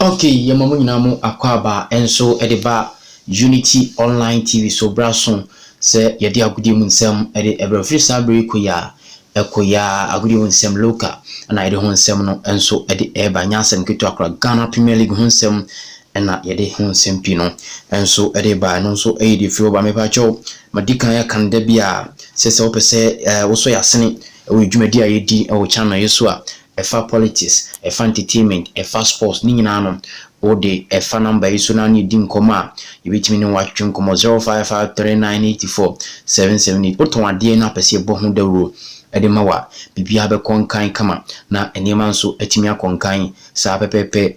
Ok yɛma mo nyinaa mo akwaaba nso de ba Unity online TV so bra so sɛ yɛde agodie mu nsɛm de brɛ wo firi saa berɛ yi kɔ yi ara ɛkɔ yi ara agodie mu nsɛm local ɛna yɛde ho nsɛm no nso de ɛreba nyɛ asɛm ketewa koraa Ghana Premier League ho nsɛm ɛna yɛde ho nsɛm pii no nso de reba ɛno nso yɛ deɛ firi hɔ ba mepa kyɛw madi kan yɛ kan da biara sɛ sɛ wopɛ sɛ wosɔ yɛ asene ɛwɔ dwumadi a yɛdi ɛwɔ channel yi so a ɛfa politics, ɛfa entertainment, ɛfa sports, ne nyinaa no wo de ɛfa number yi so na ne yɛdi nkɔmmɔ a, yɛbɛtumi ne wo atwetwe nkɔmmɔ, 0553984778. Wotɔn adeɛ na wopɛ sɛ yɛbɔ ho dawuro de ma wo a, biribiara bɛkɔ nkan kama na nneɛma nso atumi akɔ nkan saa pɛpɛɛpɛ.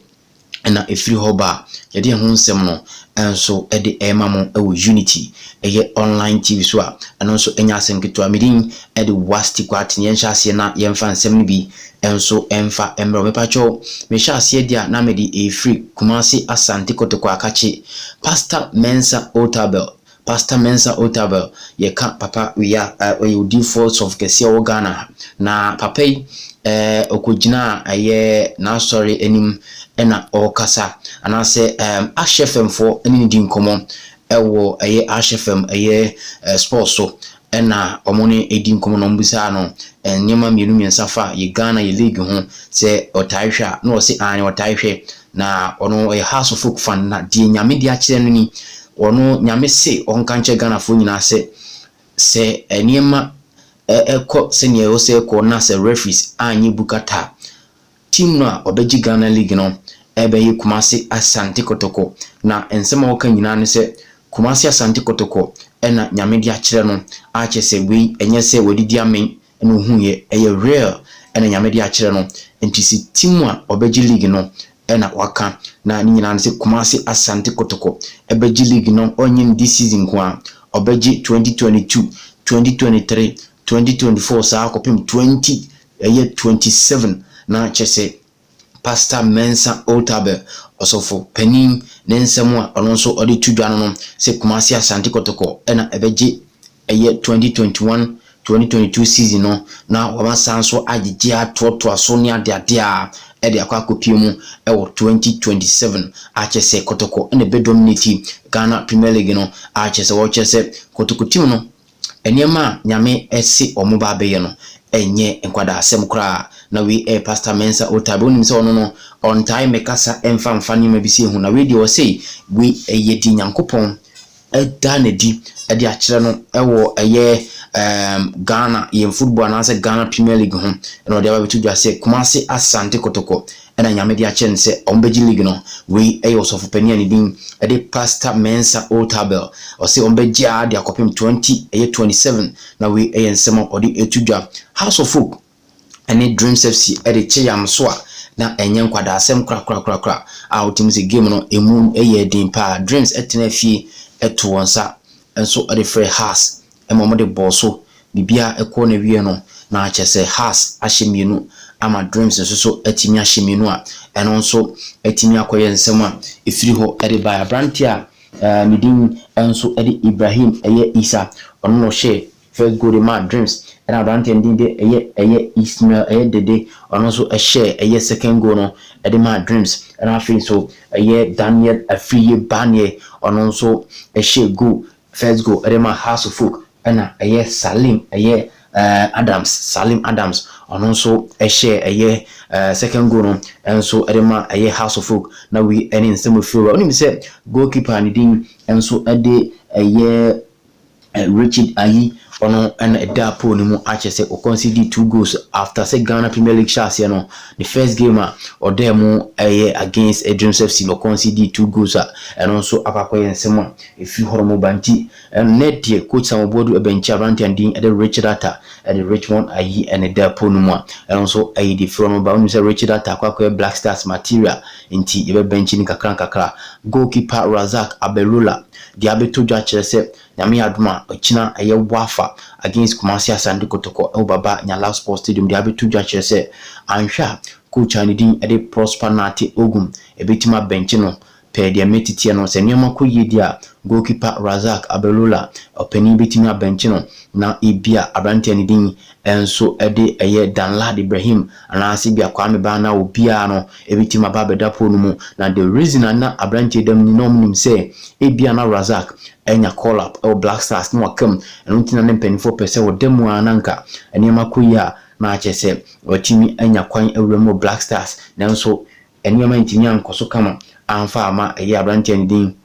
na ɛfiri hɔ ba a, yɛde ɛho nsɛm no nso de rema mo wɔ Unity, ɛyɛ online TV so a ɛno nso nyɛ asɛm ketewa. Me din de Wasti Kwarteng. Yɛnhyɛ aseɛ na yɛmfa nsɛm no bi nso mfa mmrɛ wo. Mepakyɛw, mehyɛ aseɛ deɛ a na mede ɛrefiri Kumasi Asante Kotoko Akakye, Pastor Mensah Otabil Pastor Mensah Otabil yɛ ka papa wia a ɔyɛ odiyifoɔ sɔfo kɛseɛ a ɔwɔ Ghana ha na papa yi eh, ɔkɔgyinaa ɛyɛ n'asɔre anim ɛna ɔrekasa anaasɛ ɛm Ahyɛ fam foɔ ɛne ne di nkɔmmɔ ɛwɔ ɛyɛ Ahyɛ fam ɛyɛ eh, sports so Ɛna ɔmo ne edi nkɔmɔ na ɔmo bisaa no nneɛma mmienu mmiɛnsa fa yɛ Ghana yɛ league ho sɛ ɔtae hwɛ a na ɔse aane ɔtae hwɛ na ɔno ɔyɛ house of folk fan na deɛ Nyame de akyerɛ no ni ɔno Nyame se ɔnka nkyerɛ Ghanafoɔ nyinaa sɛ sɛ nneɛma ɛkɔ sɛdeɛ ɛwɔ sɛ ɛkɔ na sɛ referees anyɛ bu kata a Team no a ɔbɛgye Ghana league no ɛbɛye Kumasi Asante Kotoko na nsɛm a wɔka nyinaa ne sɛ Kumasi Asante Kotoko na Nyame de akyerɛ no a kyerɛ sɛ wei ɛnyɛ sɛ wadidi amen na ohuuiɛ ɛyɛ real na Nyame de akyerɛ no nti sɛ team a ɔbɛgye league no na waka na ne nyinaa ne sɛ Kumasi Asante Kotoko bɛgye league no ɔnyɛ no this season nko ara ɔbɛgye twenty twenty two, twenty twenty three, twenty twenty four saa kɔpem twenty Ɛyɛ twenty seven na kyerɛ sɛ Pastor Mensah Otabil, Ɔsɔfo panin, ne nsɛm a ɔno nso ɔde to dwa no no sɛ Kumasi Asante Kɔtɔkɔ na ɛbɛgye ɛyɛ twenty twenty one, twenty twenty two season no na wɔama san nso agyegye atoatoa so ne adeade a ɛde akɔ akɔpue mu wɔ twenty twenty seven a kyerɛ sɛ Kɔtɔkɔ na ɛbɛ dominate Ghana Premier League no a kyerɛ sɛ wɔkyerɛ sɛ Kɔtɔkɔ team no Nneɛma a Nyame se ɔmo ba abɛyɛ no nyɛ nkwadasɛm koraa. Na wei yɛ Pastor Mensah Otabil. Wonim sɛ ɔno no ɔntae mmɛkasa mfa mfa nneɛma bi se ho. Na wei deɛ ɔse wei yɛ deɛ Nyankopɔn da no adi de akyerɛ no wɔ ɛyɛ ɛɛm Ghana yɛn football anaasɛ Ghana Premier League ho. Ɛna ɔde aba abɛto dwa sɛ Kumasi Asante Kotoko na Nyame de akyɛ no sɛ wɔbɛgye league no. Wei yɛ ɔsɔfo panin a ne din de Pastor Mensah Otabil. Ɔse wɔbɛgye ara de akɔpem twenty ɛyɛ twenty seven na wei yɛ nsɛm a ɔde reto dwa. House of Hope ne Dreams FC de kye yam so a na ɛnyɛ nkwadaasɛm korakorakorakora a wotumi se game no emu yɛɛ den paa. Dreams tenaa fie too wɔn nsa nso de frɛɛ Hearts ma wɔde bɔɔ so biribiara kɔɔ n'awieɛ no, na kyerɛ sɛ Haas ahyɛ mmienu ama Dreams nso so atumi ahyɛ mmienu a ɛno nso atumi akɔyɛ nsɛm a ɛfiri hɔ de baeɛ. Aberanteɛ a ne din nso de Ibrahim yɛ Issa, ɔno na ɔhyɛɛ first goal de maa Dreams, ɛna aberanteɛ no din de yɛ Ismail Dede, ɔno nso hyɛɛ second goal no de maa Dreams, ɛna afei nso Daniel Afriyie Baneɛ, ɔno nso hyɛɛ goal First goal de ma House of Folk na ɛyɛ Salim ɛyɛ Adams, Salim Adams ɔno nso hyɛɛ ɛyɛ second goal no nso de ma ɛyɛ House of Folk na wei ne nsɛm a ɛfiri wura. Wonim sɛ goal keeper a ne din nso de ɛyɛ Richard Ayi ɔno na ɛda poll no mu akyɛ sɛ ɔkɔ nsi di two goals after sɛ Ghana Premier League hyɛ aseɛ no ne first game a ɔdaa mu ɛyɛ against Dreams FC no ɔkɔ nsi di two goals a ɛno nso akɔ akɔyɛ nsɛm a Efi hɔnom ba nti, ɛnnɛ deɛ Coach Sam Obuadu ɛbɛnkye aberanteɛ no din de Richard Atta de Richmond ayi ne da po no mu a, ɛno nso ɛyɛ deɛ firi hɔnom ba. Wonim sɛ Richard Atta kɔ akɔyɛ Black Stars material nti yɛbɛbɛnkye no nkakra nkakra. Goalkeeper Razak Abelula deɛ abɛtɔ dwa kyerɛ sɛ Nyame yɛ adom a, ɔkyena ɛyɛ Wafa against Kumasi Asante Kotoko wɔ Baba Nyala Sports Stadium deɛ abɛtɔ dwa kyerɛ sɛ anhwɛ a Coach a ne din de Prosper Nartey Ogum ɛbɛtumi abɛnkye no Pɛ deɛ mɛtitiɛ no, sɛ nneɛma kɔ yie deɛ a, goalkeeper Razak Abelula, ɔpanin bɛtumi abɛnkye no na ebia aberanteɛ no din nso de ɛyɛ Danlad Ibrahim anaasɛ ebia Kwame Baa anaa obiara no bɛtumi aba abɛda pole no mu. Na the reason a na aberanteɛ da mu ni, na wɔnim sɛ ebia na Razak anya call up wɔ Black Stars na waka mu, ɛno nti na ne mpanimfoɔ pɛ sɛ ɔda mu ara na anka nneɛma kɔ yie a na akyerɛ sɛ watumi anya kwan awura mu wɔ Black Stars nanso Nneɛma antumi ankɔ so kama amfa amma ɛyɛ aberanteɛ no din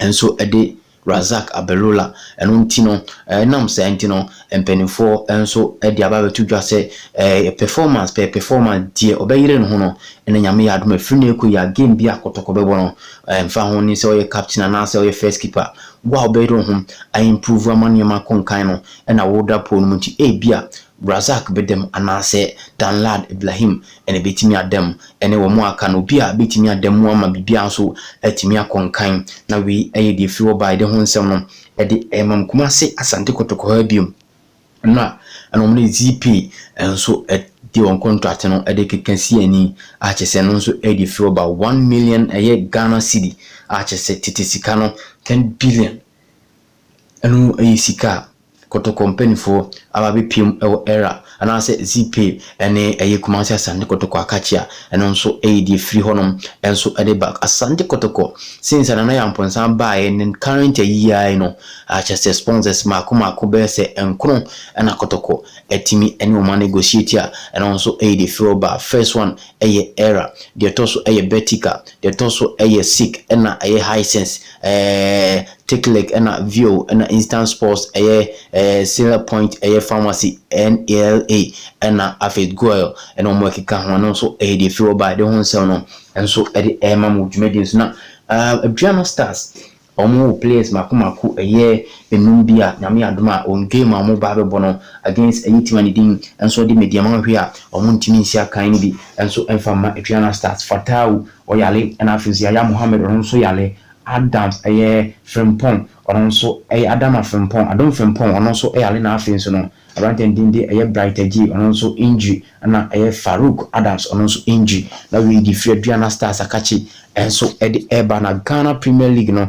nso de Razak Abelula. Ɛno nti no, ɛnam saa nti no, mpanimfoɔ nso de aba abɛto dwa sɛ ɛyɛ performance pɛ, performance, deɛ ɔbɛyere ne ho no, na Nyame yɛ adom a, ɛfiri nnɛ rekɔ yi a, game biara a kɔtɔkɔ bɛbɔ no, ɛmfa ho ne sɛ ɔyɛ captain anaasɛ ɔyɛ first keeper, wo a wobɛyere wo ho a improve ama nneɛma akɔ nkan no na woda pole no mu nti, ebia Razak bɛdam anaasɛ Danlad Iblahim na ɛbɛtumi adam ne wɔn a aka no. Obi a bɛtumi adam mu ama biribiara nso atumi akɔ nkan. Na wei yɛ deɛ ɛfiri hɔ baeɛ de ho nsɛm no de remam Kumase Asante Kotoko ha bio. Ɛno a ɛna wɔn de Zeepay nso de wɔn kɔntrate no de rekeka si ani a kyerɛ sɛ ɛno nso yɛ deɛ ɛfiri hɔ ba. One million ɛyɛ Ghana cedi a kyerɛ sɛ tete sika no ten billion Ɛno yɛ sika a kɔtɔkɔ mpaninfoɔ aba abɛpiam wɔ Ɛra anaasɛ Zipay ɛne ɛyɛ Kumasi Asante Kɔtɔkɔ Akakye a ɛno nso yɛ deɛ ɛfiri hɔnom nso de ba Asante Kɔtɔkɔ since Nana Yamponsan baeɛ ne current ayi yi ara yi no akyɛ sɛ sponsors mmaako mmaako bɛyɛ sɛ nkono na kɔtɔkɔ atumi ne wɔn a negotiate a ɛno nso yɛ deɛ ɛfiri hɔ ba first one yɛ Ɛra deɛ ɛtɔ so yɛ Betika deɛ ɛtɔ so yɛ Sik ɛna ɛyɛ Hisense ɛɛ Tekilek na Vio na Instant Sports ɛyɛ ɛɛ Sila Point ɛyɛ Pharmacy NALA ɛna afei Goil ɛna wɔn ɛkeka ho ɛno nso ɛyɛ deɛ Fio baeɛ de ho nsɛm no nso ɛde ɛɛma mo dwumadie nso na ɛɛ Aduano Stars wɔn wɔ players mako mako ɛyɛ nnum bi a Nyame adom a wɔn game a wɔn ba abɛbɔ no against ɛyɛ team a ne din nso ɛde Mediama Ahwe a wɔn ntumi nsi akan no bi nso ɛmfa mma Aduano Stars Fatawu ɔyare ɛna afei nso Yaya Mohammed ɔno nso yare Adams yɛ Frimpong, ɔno nso yɛ Adama Frimpong, Adom Frimpong, ɔno nso yare na afei nso no aberanteɛ no din de ɛyɛ Bright Adjei, ɔno nso injury, ɛna ɛyɛ Farouk Adams, ɔno nso injury, na wei de firi Aduana Stars Akakye nso de reba, na Ghana Premier League no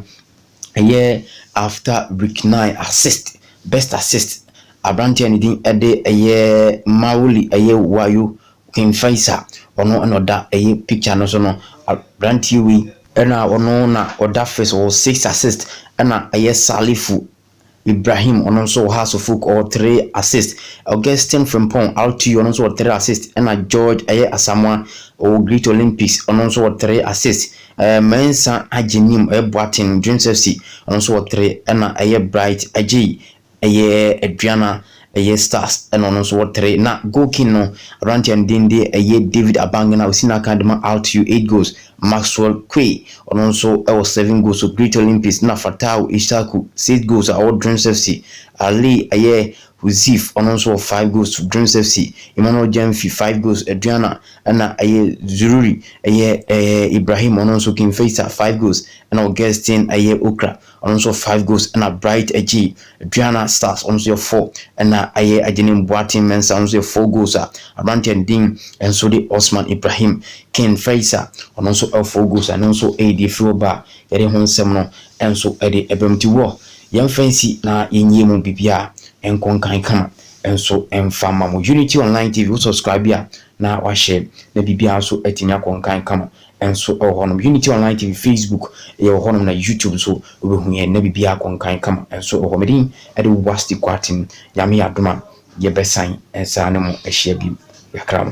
ɛyɛ after week nine assist, best assist, aberanteɛ a ne din de ɛyɛ Mawuli ɛyɛ Wayo, Queen Faisa ɔno na ɔda ɛyi picture no so no abranteɛ wei. Ɛna ɔno na ɔda first ɔwɔ six assist ɛna ɛyɛ Salifu Ibrahim ɔno nso wɔ ha Sufuk ɔwɔ three assist Augustine Frimpong RTU ɔno nso wɔ three assist ɛna George ɛyɛ Asamoah ɔwɔ Great Olympics ɔno nso wɔ three assist ɛɛ Mensah Agyenim ɛyɛ Boateng Dreams FC ɔno nso wɔ three ɛna ɛyɛ Bright Adjei Ɛyɛ Adriana, ɛyɛ Stars ɛna ɔno nso wɔ three. Na goal king no, aberanteɛ a ne din de ɛyɛ David Abangena a ɔsi n'akan de ma Altio, eight goals. Maxwell Quay, ɔno nso wɔ seven goals wɔ Great Olympics. Ɛna Fatawu Issaku, six goals a ɔwɔ Dreams FC. Ali ɛyɛ Huzif, ɔno nso wɔ five goals for Dreams FC. Emmanuel Gyamfi, five goals, Adriana. Ɛna ɛyɛ Zururi, ɛyɛ ɛɛ Ibrahim, ɔno nso King Faisal, five goals. Ɛna Augustine ɛyɛ Okra, Ɔno nso five goals na Bright agye. Aduana Stars ɔno nso yɛ four na ayɛ. Agyenim Boateng Mensah ɔno nso yɛ four goals a aberanteɛ no din nso de Osman Ibrahim. Ken Faisa ɔno nso ɛwɔ four goals a ɛno nso ɛredi afiri hɔ ba a yɛde ho nsɛm no nso de ɛba mu. Nti wɔ yɛmfa nsi na yɛnyie mu biribiara nkɔ nkan kama nso mfa mma mo. Unity Online TV wo subscribe a na wahyɛ na biribiara nso atumi akɔ nkan kama. nso wɔ hɔnom. Unity Online TV, Facebook, yɛ wɔ hɔnom na YouTube nso wobɛhu yɛn na biribiara akɔ nkan kama nso wɔ hɔ. Me din de Wasti Quartin. Nyame yɛ adom a yɛbɛsan nsa ne mo ahyia bio. Yɛakra mo.